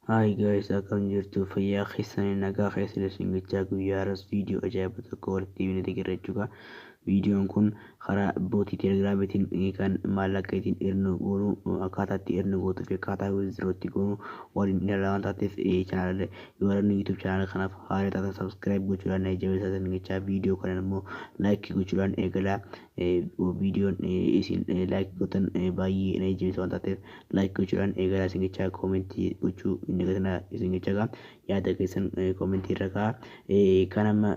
Hi guys akkam jirtu fayyaa keessanii nagaa keessan isin gachaa guyyaa har'as viidiyoo ajaa'iba tokko walitti deebinee deeggarra jechuudha. Viidiyoon kun karaa bootii telegiraamiitiin kan maallaqa ittiin ernu goonu akkaataa itti ernu gootuu fi akkaataa wizdiroo itti goonu waliin ilaala waan taateef chaanaala warreen yuutuub chaanaala kanaaf haala taatan sabskiraayib gochuudhaan jabeessaa isin gachaa viidiyoo kanan immoo laayikii gochuudhaan eegalaa Viidiyoon isin like gootan baay'ee na jajjabeessa waan taateef like gochuudhaan eegalaa isin jechaa koomentii gochuu hin dagatinaa isin jechaa gaa yaada keessan koomentii irra kaa kan amma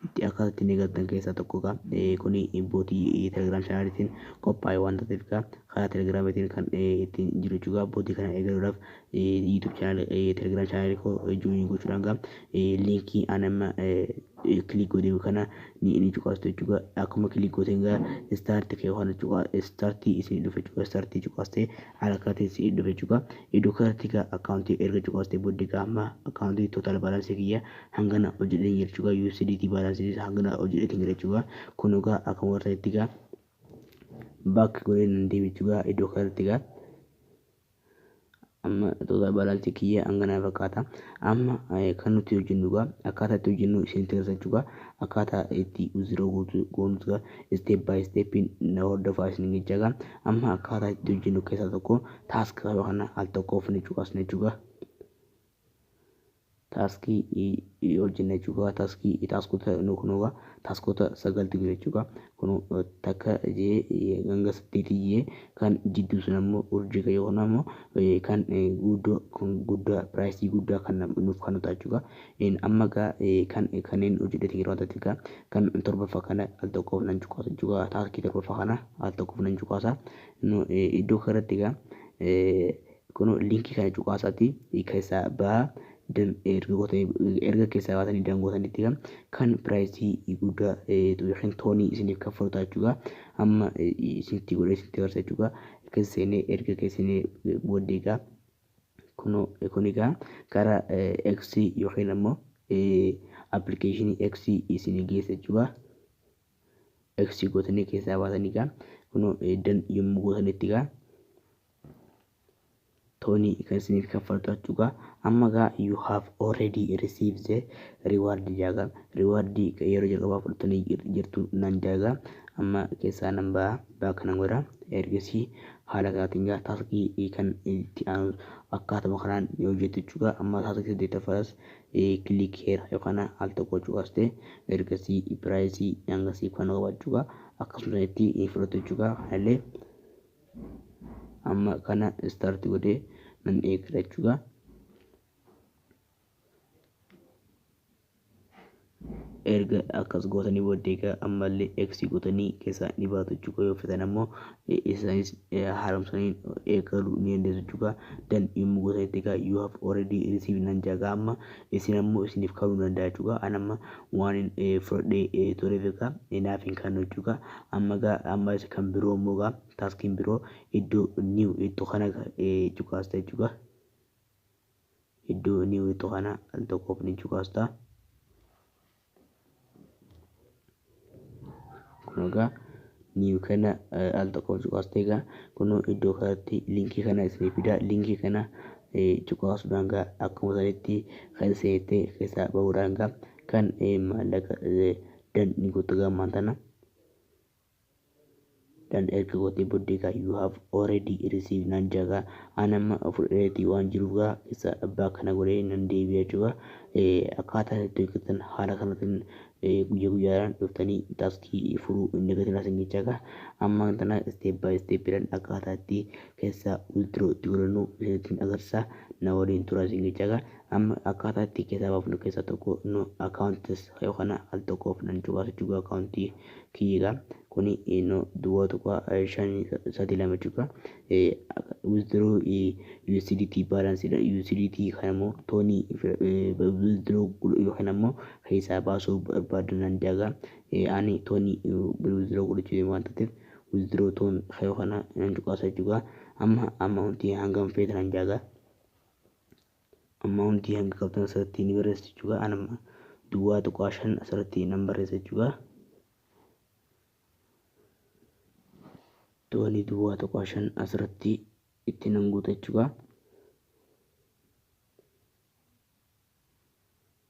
itti akkaataa ittiin eegaltan keessaa tokko gaa kuni bootii telegiraam chaanaaliitiin qophaa'e waan taateef gaa karaa telegiraamiitiin kan ittiin jiru jechuudha bootii kana eegaluudhaaf YouTube channel telegram channel koo join gochuudhaan gaa linkii an amma click godhee kana ni ni cuqaastu jechuudha akkuma click gooteen gaa start kee waan cuqaa start isin dhufe jechuudha start cuqaastee haala kanaatiin si dhufe jechuudha iddoo kanatti gaa akkaawuntii erga cuqaastee booddee gaa amma akkaawuntii total balance kiyya hangana hojjedheen jira jechuudha USDT balance isaa hangana hojjedheetiin jira jechuudha kun gaa akkuma warra itti gaa back godhee nan deebi'u jechuudha iddoo kanatti gaa Amma tuutaa baalaalcha kiyya hanganaa fakkaata. Amma kan nuti hojjennu egaa akkaataa itti hojjennu isinitti agarsiisa jechuudha. Akkaataa itti uziroo goonu egaa isteep baay isteepiin na hordofaa isiniin jechaa egaa. Amma akkaataa itti hojjennu keessaa tokko taaskii kana al tokkoof ni cuqasna jechuudha. taaskii i hojjenna jechuu qaba taaskii i taaskota nu kunoo gaa taaskota sagaltu jiru jechuu gaa kunu takka jee hanga saddeeti jee kan jidduu sun ammoo urjii kan yookaan ammoo kan guddoo kan guddaa piraayisii guddaa kan nam- nuuf kan ta'a jechuu gaa Een, amma gaa eh, kan kanneen hojjedhete yeroo ta'etti gaa kan torbaffaa kana al tokkoof nan cuqaasa jechuu gaa taaskii torbaffaa kana al tokkoof nan cuqaasa Nu, eh, iddoo kanarratti gaa eh, Kuno link kana cuqaasati kessa baha dan erga gote erga kessa baatani dan gootanitti kan kan price gudda tu yookiin tooni isinif kaffalu ta'a jechuudha amma isinitti godhe isinitti agarsa jechuudha kessa seene erga kessa seene booddee egaa kuno kun egaa kara X yookiin ammoo application X isin geessa jechuudha X gootanii keessaa baatanii egaa kuno dan yommuu gootanitti egaa toni kan isiniif kaffaltu achuga amma gaa you have already received the reward jaaga reward yeroo jalqabaa fudhattanii jir- jirtu nan jaaga amma keessaa nan ba'a ba'a kanan godha ergasii haala kanaatiin gaa taaskii kan itti aanu akkaatuma kanaan ni hojjettu jechuudha amma taaskii saddeettaffaadhas kilik heera yookaan al tokko cuqaste ergasii piraayisii hangasii kan qabachuudha akkasuma itti fudhattu jechuudha kanallee amma kana start godhee nan eeggata jechuudha. erga akkas gootanii booddee egaa ammallee x gootanii keessaa ni baatu jechuudha yoo fetan ammoo isaanis haaromsanii eegaluu ni dandeessu jechuudha dan yommuu gootanitti egaa you have already received nan jaaga amma isin ammo isinif kanuu danda'a jechuu kaa an amma waanin fudhadhee tureef egaa naaf hin kannu jechuu kaa amma gaa amma isa kan biroo immoo gaa taskiin biroo iddoo new jettu kana cuqaasta jechuu kaa iddoo new jettu kana al tokkoof ni cuqaasta. kun egaa niiw kana al tokko cuqaastee egaa kun iddoo kanatti linkii kana isinii fidaa linkii kana cuqaasuudhaan egaa akkuma sanitti kan seentee keessaa bahuudhaan egaa kan maallaqa dan ni guuttagaa ammaan tana. Dhan erga gotee boddee gaa you have already received naan jaa gaa aan amma fudhadheeti waan jiruuf gaa isa abbaa kana godhee nan deebi'a jechuudha akkaataa itti hojjetan haala kanatiin guyya guyyaadhaan dhuftanii taaskii furuu hin dagatinaa sin jechaa gaa amma tana step by step dhan akkaataa itti keessaa withdraw itti godhannu isinitiin agarsiisaa na waliin turaa sin jechaa gaa amma akkaataa itti keessaa baafnu keessaa tokko nu accounts yookaan al tokkoof nan cubaasa jechuu gaa accountii kiyyi gaa kuni no duwwaa tuqaa shan sadii lama jechuudha withdraw USDT balance dha USDT kana immoo toonii withdraw godhu yookiin ammoo keessaa baasuu barbaadu nan dagaa ani toonii withdraw godhachuu deemu waan taateef withdraw toon kayoo kana nan cuqaasa jechuudha amma amma wanti hangam feetan dagaa amma hundi hanga qabdan asirratti ni barreessu jechuudha. An amma duwwaa tuqaa shan asirratti nan barreessa jechuudha. Doonii duwwaa tuqaa shan asirratti itti nan guuta jechuudha.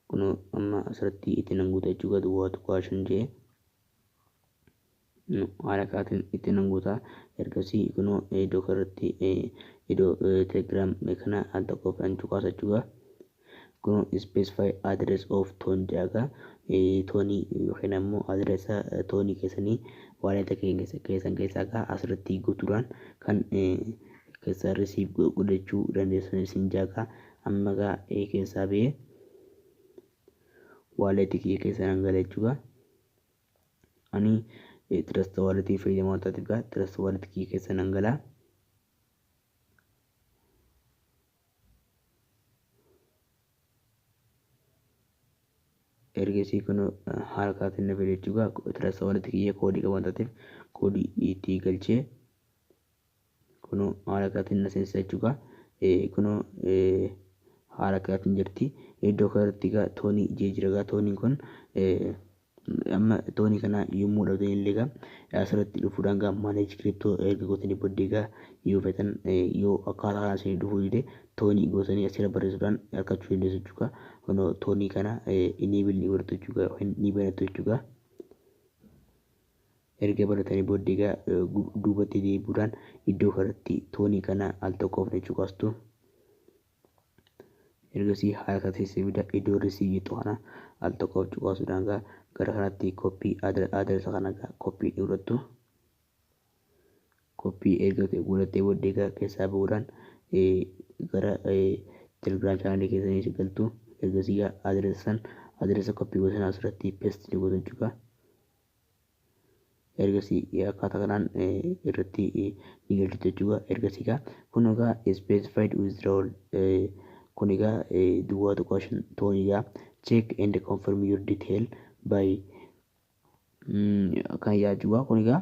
Kun amma asirratti itti nan guuta jechuudha duwwaa tuqaa shan jee. nu haala kaatin itti nan guuta ergasii kunoo iddoo kanarratti iddoo telegram kana al tokkoof nan cuqaasa jechuudha kunoo specify address of ton jaaga toonii yookiin ammoo adressa toonii keessanii waaleta keessan keessaa gaa asirratti guutuudhaan kan keessaa risiif godhachuu dandeessan isin jaaga amma gaa keessaa bee waaleti kiyya keessan hangala jechuudha Ani trust wallet fayyadamaa waan taateef gaa trust wallet kiyya keessa nan galaa. ergasii kun haala kaatiin na fide jechuudha. Trust wallet kiyya koodii qaban taateef koodii itti galchee Kunoo haala kanaatiin na seensisaa jechuu gaa. Eh, Kunoo eh, haala kanaatiin jirti. Iddoo kanarratti gaa toonii jee jira gaa tooniin kun eh, amma toonii kana yommuu dhabdan illee gaa eh, asirratti dhufuudhaan gaa manage crypto erga gootanii booddee gaa yoo feetan eh, yoo akkaataa kanaan isinii dhufuu dide toonii gootanii asirra barreessuudhaan argachuu dandeessu jechuu gaa. Kunoo toonii kana eh, enable ni godhattu jechuu gaa yookiin ni banattu jechuu gaa. Erga baratanii booddee egaa duubatti deebi'uudhaan iddoo kanatti toonii kana al tokko ofne cuqastu. Ergasii haala kana teessee bida iddoo risii jettu kana al tokko of cuqaasuudhaan egaa gara kanatti koppii adaresa kana egaa koppii godhattu. Koppii erga godhattee booddee egaa keessaa ba'uudhaan gara telegiraam chaanalii keessanii si galtu. Ergasii egaa adaresa san adaresa koppii gosan asirratti pesti ni gotu jechuudha. ergasii akkaataa kanaan irratti ni galchitu jechuudha. Ergasii egaa kun egaa specified withdrawal kun egaa duwwaa tuqaa shan toon egaa check and confirm your detail by kan yaa jechuudha kun egaa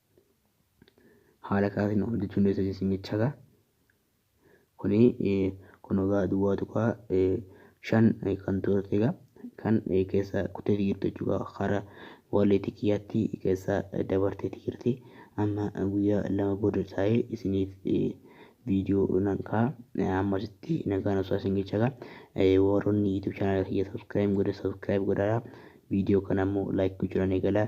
haala kaatiin hojjechuu hin dandeessu jechuun jechaadha. Kuni kun egaa duwwaa tuqaa shan kan turte egaa kan keessa kuttee jirtu jechuudha. Hara waliitii kiyyaatti keessa dabartee jirti. Amma guyyaa lama booda taa'ee isiniif viidiyoo nan ka'a. Amma asitti nagaan osoo isin jechaadha. Warroonni YouTube channel kiyya subscribe godhe subscribe godhaa. Viidiyoo kana immoo like gochuudhaan eegalaa.